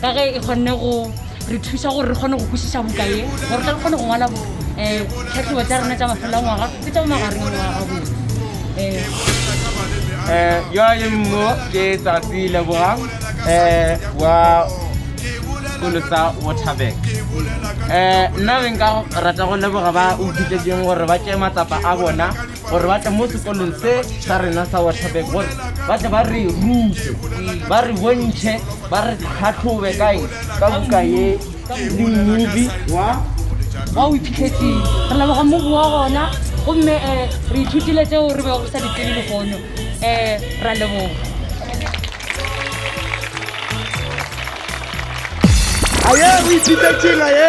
ka ge e kgonne go re thusa gore re kgone go kwešiša buka ye gore tle re kgone go ngwala tlhatlhobo eh, tsa rena tsa mafelo a ngwaga le tsa magareng a ngwaga gabotse um yo le mo ke tsatsi lebogang um wa sekolo sa waterbank um nna be nka rata go leboga ba o kitleding gore ba tšee matsapa a bona gore ba tle mo sekolong se sa rena sa Waterberg gore ba tle ba re rute ba re bontšhe ba re tlhatlhobe kae ka buka ye le mmubi wa wa o iphitlhetseng re leboga mmubi wa gona gomme um re ithutile tseo re bego re sa ditsebe legono um ra leboga aye o iphitlhetseng aye